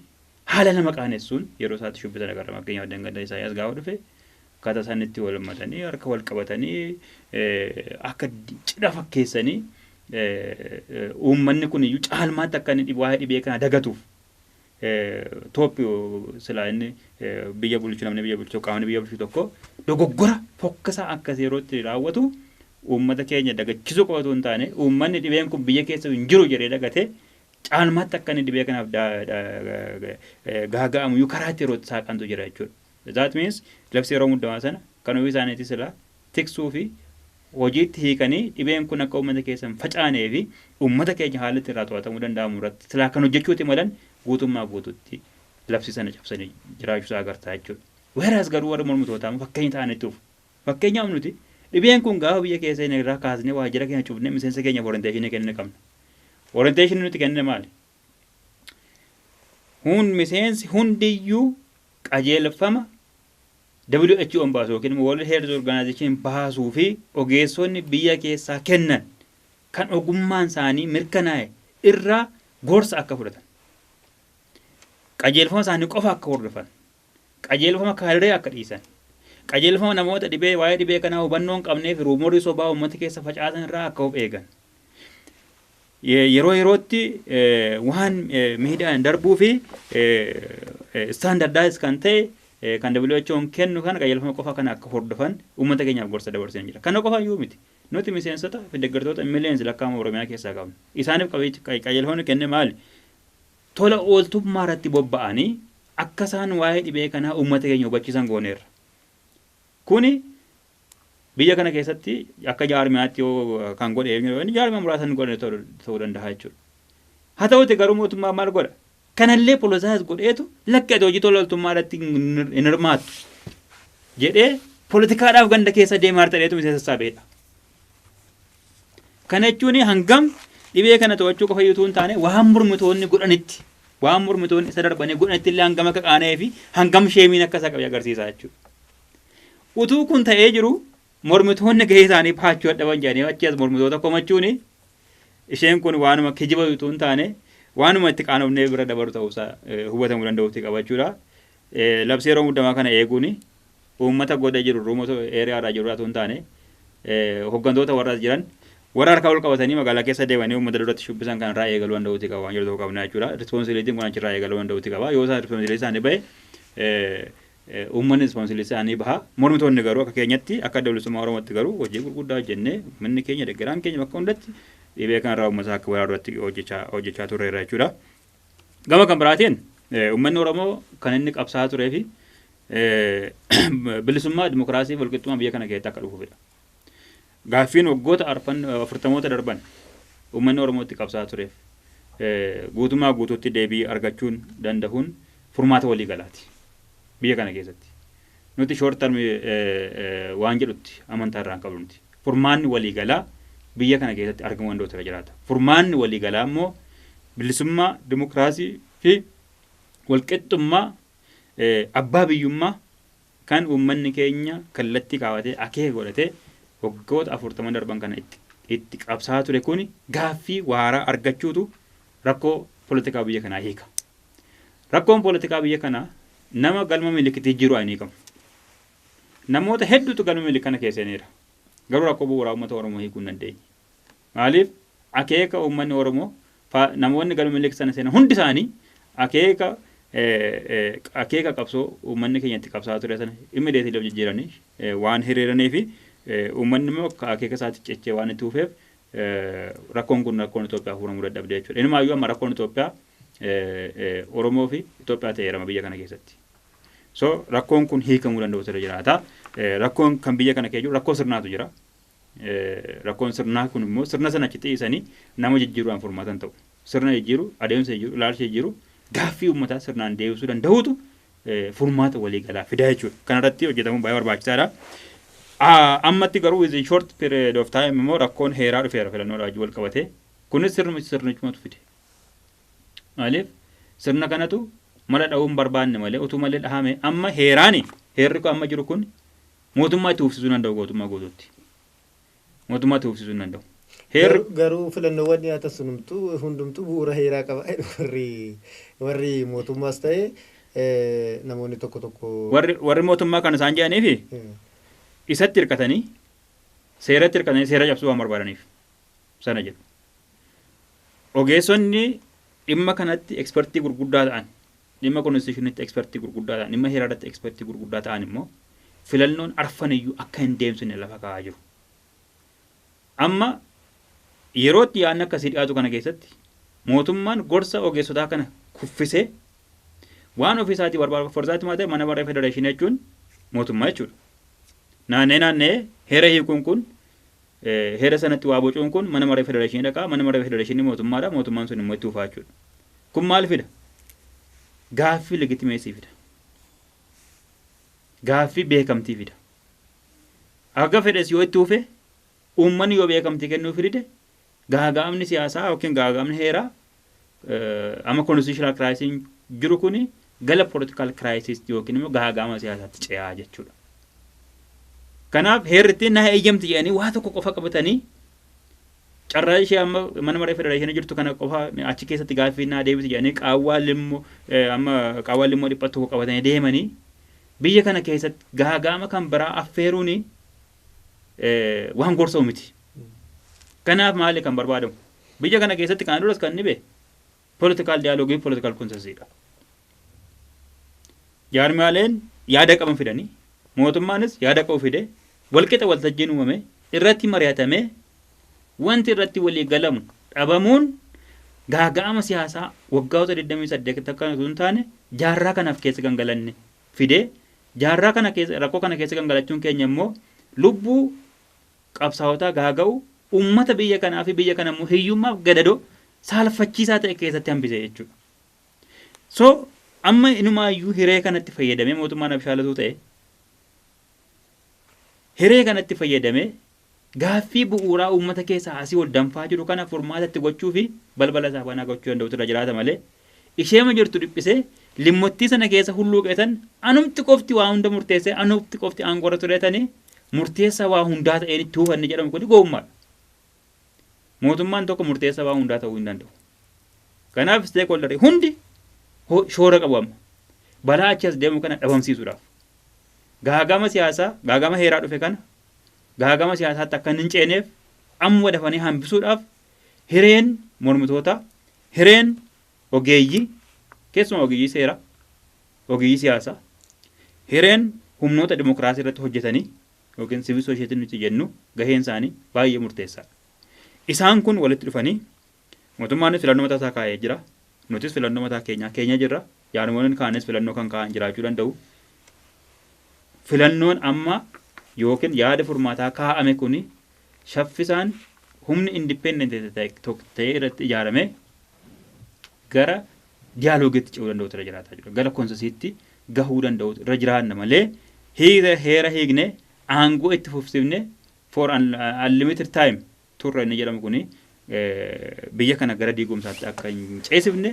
Haala nama qaanessuun yeroo isaatti shubbisan agarra. Fakkeenyaaf Dhangadda Isaayyaas gaafa dhufe akkaataa isaan itti wal hammatanii harka wal qabatanii akka cidha fakkeessanii uummanni kun iyyuu caalmaatti akka inni waa'ee dhibee kana dagatuuf tooppi silaa inni biyya bulchu namni biyya bulchu qaamni biyya bulchu tokko dogoggora fokkisaa akkas yerootti raawwatu uummata keenya dagachisuu qofa otoo hin taane uummanni dhibeen kun biyya keessa hin jiru jedhee dagatee caalmaatti akka inni dhibee kanaaf gaaga'amu iyyuu karaa itti yeroo itti saaqantu jira jechuudha. That means labsii yeroo muddamaa sana kan ofii isaaniitii silaa tiksuu fi hojiitti hiikanii dhibeen kun akka uummata keessa hin facaanee fi uummata keenya haalli itti irraa to'atamuu danda'amu irratti silaa kan hojjechuuti malan guutummaa guututti labsii sana cabsanii jiraachuu isaa agartaa jechuudha. Weeraas garuu warri mormitootaa immoo fakkeenya ta'anitti dhufu. Fakkeenyaaf nuti dhibeen kun gaafa biyya keessa seene irraa kaasnee waajjira keenya cufnee miseensa keenyaaf orienteeshinii kennina qabna. Orienteeshinii nuti kennina maali? Hun miseensi hundiyyuu qajeelfama WHO'n baasu yookiin immoo World Health Organization baasuu fi ogeessonni biyya keessaa kennan kan ogummaan isaanii mirkanaa'e irraa gorsa akka fudhatan. Qajeelfama isaanii qofa akka hordofan. Qajeelfama kaadiree akka dhiisan. Qajeelfama namoota dhibee waa'ee dhibee kanaa hubannoo hin qabneefi ruumorri sobaa uummata keessa facaasan irraa akka of eegan. Yeroo yerootti waan miidiyaan darbuu fi standardized kan ta'e kan WHO'n kennu kana qajeelfama qofa kana akka hordofan uummata keenyaaf gorsa dabarsee jira. Kana qofa iyyuu miti. Nuti miseensota fi deeggartoota millions lakkaa'ama Oromiyaa keessaa qabna. Isaaniif qajeelfamni kenne maali? tola ooltummaa irratti bobba'anii akka isaan waa'ee dhibee kanaa uummata keenya hubachiisan gooneerra. Kuni biyya kana keessatti akka jaarmiyaatti yoo kan godhe eenyu yoo jaarmiyaa muraasa hin godhane ta'uu danda'a jechuudha. Haa ta'uuti garuu mootummaan maal godha? Kanallee politicize godheetu lakki ati hojii tola ooltummaa irratti hin hirmaattu jedhee politikaadhaaf ganda keessa deemaa jirtadheetu miseensa sassaabedha. Kana jechuun hangam dhibee kana to'achuu qofa utuu hin taane waan mormitoonni godhanitti waan mormitoonni isa darbanii godhanitti illee hangam akka qaana'ee fi hangam sheemiin akka isa qabe agarsiisa jechuudha. Utuu kun ta'ee jiru mormitoonni gahee isaanii baachuu dadhaban jedhanii achi as mormitoota komachuun isheen kun waanuma kijiba utuu hin taane waanuma itti qaanofnee bira dabaru ta'uusaa hubatamuu danda'uutti qabachuudha. Labsii yeroo muddamaa kana eeguun uummata goda jiru remote area irraa jiru irraa utuu hin taane hoggantoota warra as jiran warra harka ol qabatanii magaalaa keessa deemanii uummata duratti shubbisan kana irraa eegaluu danda'uuti qaba waan jedhu tokko qabna jechuudha. Responsibilitiin kun achirraa eegaluu danda'uuti qaba. Yoo isaan responsibilitii isaanii bahe uummanni responsibilitii isaanii baha. Mormitoonni garuu akka keenyatti akka adda bilisummaa Oromootti garuu hojii gurguddaa hojjennee uummanni keenya deggeraan keenya bakka hundatti dhibee kanarraa uummata akka baraaru irratti hojjechaa turreerra jechuudha. Gama kan biraatiin uummanni Oromoo kan inni qabsaa'aa turee fi bilisummaa, dimokiraasii fi walqixxummaa biyya kana keessatti akka dhufuufidha. Gaaffiin waggoota afurtamoota darban uummanni Oromootti qabsaa'aa tureef guutummaa guutuutti deebii argachuun dandahuun furmaata walii galaati biyya kana keessatti. Nuti short term waan jedhutti amantaa irraa hin qabnu nuti. Furmaanni waliigalaa biyya kana keessatti argamuu danda'utu irra jiraata. Furmaanni waliigalaa immoo bilisummaa, dimokiraasii fi walqixxummaa abbaa biyyummaa kan uummanni keenya kallattii kaawatee akeeka godhatee waggoota afurtaman darban kana itti, itti qabsaa ture kuni gaaffii waaraa argachuutu rakkoo politikaa biyya kanaa hiika. Rakkoon poolitikaa biyya kanaa nama galma milikitii jiru hin hiikamu. Namoota hedduutu galma milik kana keessa seeneera. Garuu rakkoo bu'uuraa uummata Oromoo hiikuu hin dandeenye. Maaliif akeeka uummanni Oromoo namoonni galma milik sana seenan hundi isaanii akeeka akeeka qabsoo uummanni keenya itti qabsaa ture sana immideetii of jijjiiranii waan hiriiranii fi uummanni immoo akeeka isaatti cichee waan itti hufeef Rakkoon kun rakkoon Itoophiyaa furamuu dadhabde jechuudha. Inumaayyuu amma rakkoon Itoophiyaa Oromoo fi Itoophiyaa ta'eera amma biyya kana keessatti. So rakkoon kun hiikamuu danda'utu irra jiraata. Rakkoon kan biyya kana kee jiru rakkoo sirnaatu jira. Rakkoon sirnaa kun immoo sirna sana achi dhiisanii nama jijjiiruudhaan furmaatan ta'u. Sirna jijjiiru, adeemsa jijjiiru, ilaalcha jijjiiru gaaffii uummataa sirnaan deebisuu danda'uutu furmaata waliigalaa fidaa jechuudha. Kanarratti hojjetamuun baay'ee barbaachisaadha. Ammatti garuu within short period of time immoo rakkoon heeraa dhufeera filannoo wajjin wal qabate. Kunis sirnuma sirnichumatu fide. Maaliif sirna kanatu mala dhahuun barbaanne malee utuu malee dhahame amma heeraani heerri kun amma jiru kun mootummaa itti uffisuu danda'u gootummaa guutuutti. Mootummaa tuufsisuu hin danda'u. Heerri. Garuu
filannoowwan dhiyaatan sun hundumtuu bu'uura heeraa qaba jedhu warri warri mootummaas ta'e namoonni tokko tokko. Warri warri mootummaa
kan isaan jedhaniifi isatti hirkatanii seeratti hirkatanii seera cabsuu waan barbaadaniif sana jedhu. Ogeessonni dhimma kanatti ekspertii gurguddaa ta'an, dhimma konstitushinitti ekspertii gurguddaa ta'an, dhimma heeraa irratti ekspertii gurguddaa ta'an immoo filannoon arfan iyyuu akka hin deemsifne lafa kaa'aa jiru. Amma yeroo itti yaadni akkasii dhiyaatu kana keessatti mootummaan gorsa ogeessotaa kana kuffisee waan ofii isaatii barbaadu for that matter mana maree federeeshinii jechuun mootummaa jechuudha. Naanna'ee naanna'ee heera hiikuun kun Heera sanatti waa bocuun kun mana maree federeeshinii dhaqa, manni maree federeeshinii mootummaadha, mootummaan sun immoo itti fufaa jechuudha. Kun maal fida? Gaaffii legitimeesii fida. Gaaffii beekamtii fida. Haga fedhes yoo itti fufe uummanni yoo beekamtii kennuuf dide gaaga'amni siyaasaa yookiin gaaga'amni heeraa eh, amma constitutional crisis jiru kuni gala political crisis yookiin immoo gaagaama siyaasaatti ce'aa jechuudha. Kanaaf heerri ittiin na eeyyamti jedhanii waa tokko qofa qabatanii carraa ishee amma mana maree federeeshinii jirtu kana qofa achi keessatti gaaffii naa deebisi jedhanii qaawwaa limmoo eh, amma qaawwaa limmoo dhiphattu tokko qabatanii deemanii biyya kana keessatti gaagaama kan biraa affeeruuni eh, waan gorsamu miti. Kanaaf maali kan barbaadamu? Biyya kana keessatti kana duras kan dhibe political dialogue fi political consensus dha. Jaarmiyaaleen yaada qaban fidanii mootummaanis yaada qabu fide walqixa waltajjiin uumame irratti mari'atamee wanti irratti walii galamu dhabamuun gaaga'ama siyaasaa waggaawota 28 akka osoo hin taane jaarraa kanaaf keessa kan galanne fide jaarraa kana keessa rakkoo kana keessa kan galachuun keenya immoo lubbuu qabsaawotaa gaaga'uu ummata biyya kanaa fi biyya kana immoo hiyyummaaf gadadoo saalfachiisaa ta'e keessatti hambise jechuudha. So amma inumaayyuu hiree kanatti fayyadamee mootummaan abshaalatuu ta'e hiree kanatti fayyadamee gaaffii bu'uuraa uummata keessaa asii ol danfaa jiru kana furmaata itti gochuu fi balbala isaa banaa gochuu danda'utu irra jiraata malee Isheema jirtu dhiphisee, limmottii sana keessa hulluuqee tan anumti qofti waa hunda murteessee anumti qofti aangoorra turee tani murteessaa waa hundaa ta'een itti hufanne jedhamu kuni gowwummaadha. Mootummaan tokko murteessaa waa hundaa ta'uu hin danda'u. Kanaaf stakeholder hundi shoora qabu amma. Balaa achi as deemu kana dhabamsiisuudhaaf. Gaagama siyaasaa, gaagama heeraa dhufe kana gaagama siyaasaatti akka hin ceeneef amma dafanii hambisuudhaaf hireen mormitootaa, Hireen ogeeyyii, keessumaa ogeeyyii seeraa, ogeeyyii siyaasaa, hireen humnoota dimokiraasii irratti hojjetanii yookiin sivil soosheetii nuti jennu gaheen isaanii baay'ee murteessaadha. Isaan kun walitti dhufanii mootummaanis filannoo mataa isaa kaa'ee jira. Nutis filannoo mataa keenyaa keenya jirra. Jaarmoleen kaanis filannoo kan kaa'an jiraachuu danda'u. Filannoon amma yookiin yaada furmaataa kaa'ame kun shaffisaan humni independent ta'e irratti ijaarame gara diyaalogeetti ce'uu danda'utu irra jiraataa jira. Gara konsesiitti gahuu danda'utu irra jiraanna malee hiira heera hiikne aangoo itti fufsifne for an unlimited time turre inni jedhamu kuni biyya kana gara diigumsaatti akka hin ceesifne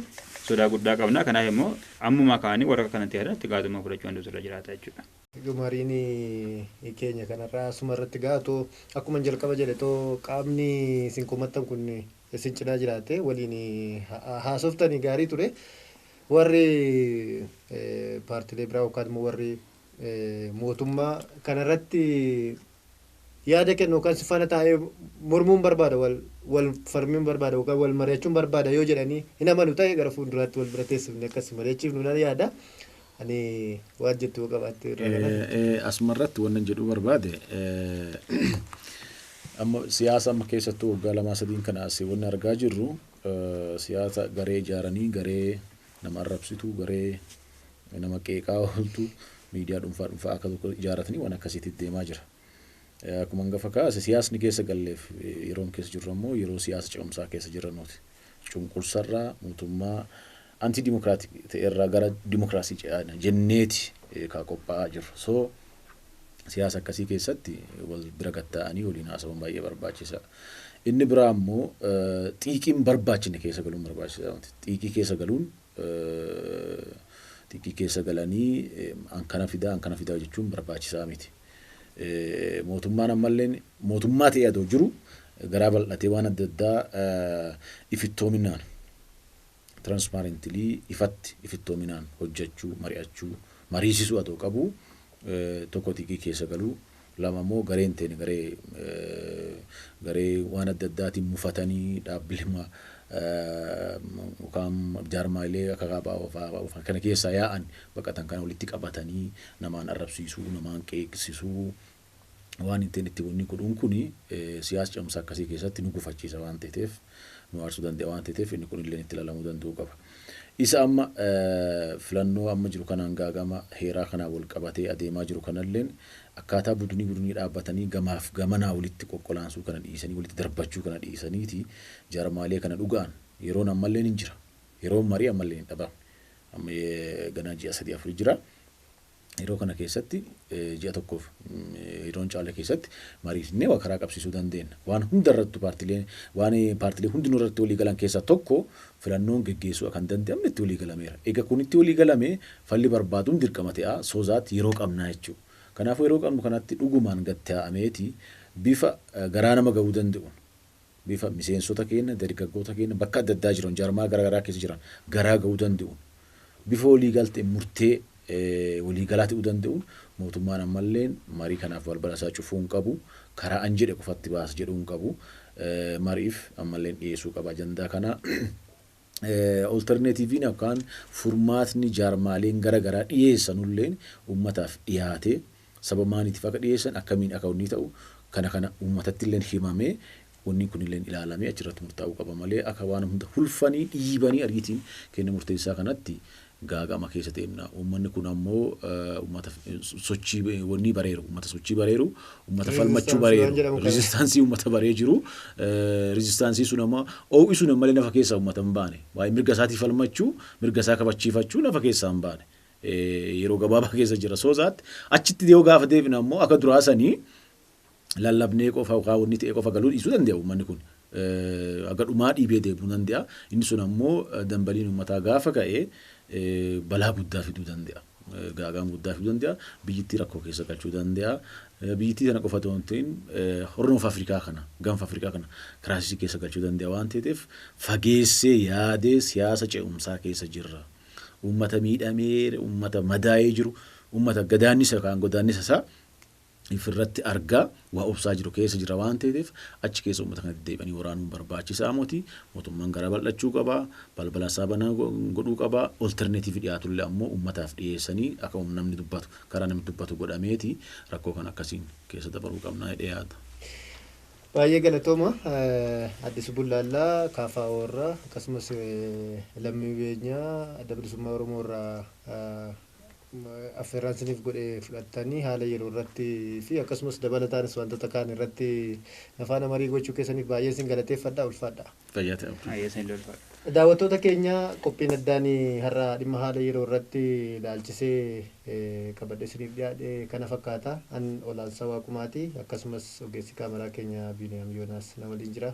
sodaa guddaa qabna. Kanaaf immoo ammumaa kaanii warra kanatti irratti gaazummaa fudhachuu danda'utu irra jiraata jechuudha. Egaa mariin
keenya kanarraa asuma irratti ga'a. Otoo akkuman jalqaba jedhe otoo qaamni isin komattan kun isin cinaa jiraatee waliin haasoftanii gaarii ture. Warri paartilee biraa yookaan immoo warri mootummaa kanarratti yaada kennu yookaan si faana taa'ee mormuun barbaada, wal, wal falmuun barbaada yookaan wal mari'achuun barbaada yoo jedhanii hin amanu ta'e gara fuulduraatti wal bira teessifnee akka si mari'achiifnu nan yaada. Ani waan jettu yoo qabaatte irraa kana. Asuma irratti
wannan jedhuu barbaade amma siyaasa amma keessattuu waggaa lamaa sadiin kana asii wanni argaa jirru siyaasa garee ijaaranii garee nama arrabsitu garee nama qeeqaa ooltu miidiyaa dhuunfaa dhuunfaa akka tokko ijaaratanii waan akkasiitti deemaa jira. Akkuma hangafa kaase siyaasni keessa galleef yeroon keessa jirru ammoo yeroo siyaasa ce'umsaa keessa jirranuuti. Cunqursarraa mootummaa anti dimokiraatik ta'erraa gara dimokiraasii ce'aadha jenneeti kaa qophaa'aa jirru. So siyaasa akkasii keessatti wal bira gatta'anii waliin haasawuun baay'ee barbaachisaa. Inni biraa ammoo xiiqiin barbaachine keessa galuun barbaachisaa miti. Xiiqii keessa galuun xiiqii keessa galanii an kana fidaa an kana fidaa jechuun barbaachisaa miti. Mootummaan ammalleen mootummaa ta'ee adoo jiru garaa bal'atee waan adda addaa ifittoominaan transparently ifatti ifittoominaan hojjachuu mari'achuu mariisisuu adoo qabu tokko xiiqii keessa galuu Lama immoo gareen teenya garee garee waan adda addaatiin mufatanii dhaabbilema yookaan jaarmaayilee akka kaabaa kana keessaa yaa'an baqatan kana walitti qabatanii namaan arrabsiisuu, namaan qeeqsisuu waan hin ta'in itti wanni godhuun kuni siyaas cimsa akkasii keessatti nu gufachiisa waan teeteef nu aarsuu danda'a waan ta'eef inni kun illee itti ilaalamuu danda'uu qaba. Isa amma filannoo amma jiru kanaan gaagama heeraa kanaan wal qabatee adeemaa jiru kanalleen akkaataa budunii budunii dhaabbatanii gamaaf gamanaa walitti qoqqolaansuu kana dhiisanii walitti darbachuu kana dhiisaniiti jarmaalee kana dhugaan yeroon ammalleen hin jira. Yeroon marii ammalleen hin dhabamne. Amma ganaa ji'a sadii afur jira. Yeroo kana keessatti ji'a tokkoof yeroo hin caalle keessatti mariisisnee waa karaa qabsiisuu dandeenna. Waan hunda irrattu paartilee waan paartilee hundinuu irratti walii galan keessaa tokko filannoon geggeessuu akka hin danda'amne itti walii galameera. Egaa kun itti walii galame falli barbaaduun dirqama ta'a so that yeroo qabnaa jechuudha. Kanaafuu yeroo qabnu kanatti dhugumaan gad taa'ameeti bifa garaa nama ga'uu danda'uun bifa miseensota keenna, dargaggoota keenna bakka adda addaa jiran, jaarmayaa gara garaa keessa jiran garaa ga'uu dande'uun, bifa wolii galte murtee wolii galaa te'uu dande'uun mootummaan ammalleen marii kanaaf balbala isaa cufuu hin qabu, karaa an jedhe qofatti baasa jedhuu hin qabu, mari'iif ammalleen dhiyeessuu qaba ajandaa kana. Oltarneetiiviin yookaan furmaatni jaarmaaleen gara garaa dhiyeessanulleen uummataaf dhiyaatee sababa maaliitiif akka dhiyeessan akkamiin akka wannii ta'u kana kana uummatattilleen himamee wanni kunilleen ilaalamee achirratti murtaa'uu qaba malee akka waan hunda hulfanii dhiibanii ariitiin kenna murteessaa kanatti gaaga'ama keessa deemna. Uummanni kun ammoo uummata sochii wannii bareeru, uummata sochii bareeru, uummata falmachuu bareeru, riizistaansii uummata baree jiru. Riizistaansii sun amma oo'isuun ammalee nafa keessaa uummata hin baane. Waa'ee mirga isaatii falmachuu, mirga isaa kabachiifachuu nafa keessaa hin baane. Yeroo gabaabaa keessa jira. Soo zaatti achitti yoo gaafa deebina ammoo akka duraa sanii lallabnee qofa yookaan wanni ta'ee qofa galuu dhiisuu dande'a uummanni kun. Haga dhumaa dhiibee deemuu dande'a. Inni sun ammoo dambaliin uummataa gaafa ka'e balaa guddaa fiduu dande'a. Gaaga'ama guddaa fiduu dande'a. Biyyittii rakkoo keessa galchuu dande'a. Biyyittii tana qofa otoo hin ta'in Horn of Afrikaa kana, Gaanfa Afrikaa kana kiraasisii keessa galchuu dande'a waan ta'eef fageessee yaadee siyaasa ce'umsaa keessa jirra. Uummata miidhamee, uummata madaa'ee jiru, uummata gadaannisa yookaan godaannisa isaa if irratti arga waa obsaa jiru keessa jira waan teeteef achi keessa ummata kana deddeebi'anii waraanuun barbaachisaa moti mootummaan garaa bal'achuu qaba balbala isaa banaa go- godhuu qaba olterneetiivi dhiyaatullee ammoo ummataaf dhiyeessanii akka um- namni dubbatu karaa namni dubbatu godhameeti rakkoo kan akkasiin keessa dabaruu qabnaa jedhee yaada. Baay'ee
galatooma eh, Addis Bullaallaa KFO irraa akkasumas eh, lammii beenyaa adda bilisummaa Oromoo irraa eh, affeerraan isiniif godhe fudhattanii haala yeroo irratti fi akkasumas dabalataanis wantoota kaan irratti na faana marii gochuu keessaniif baay'een isin galateeffadha ulfaadha. Fayyaa ta'aa abdii. Baay'ee isin ulfaadha. Daawwattoota keenya qophiin addaan har'a dhimma haala yeroo irratti ilaalchisee qabadhe isiniif dhiyaadhe kana fakkaata. An Olaansaa Waaqumaati. Akkasumas ogeessi kaameraa keenya Biiniyaam Yoonaas na waliin jira.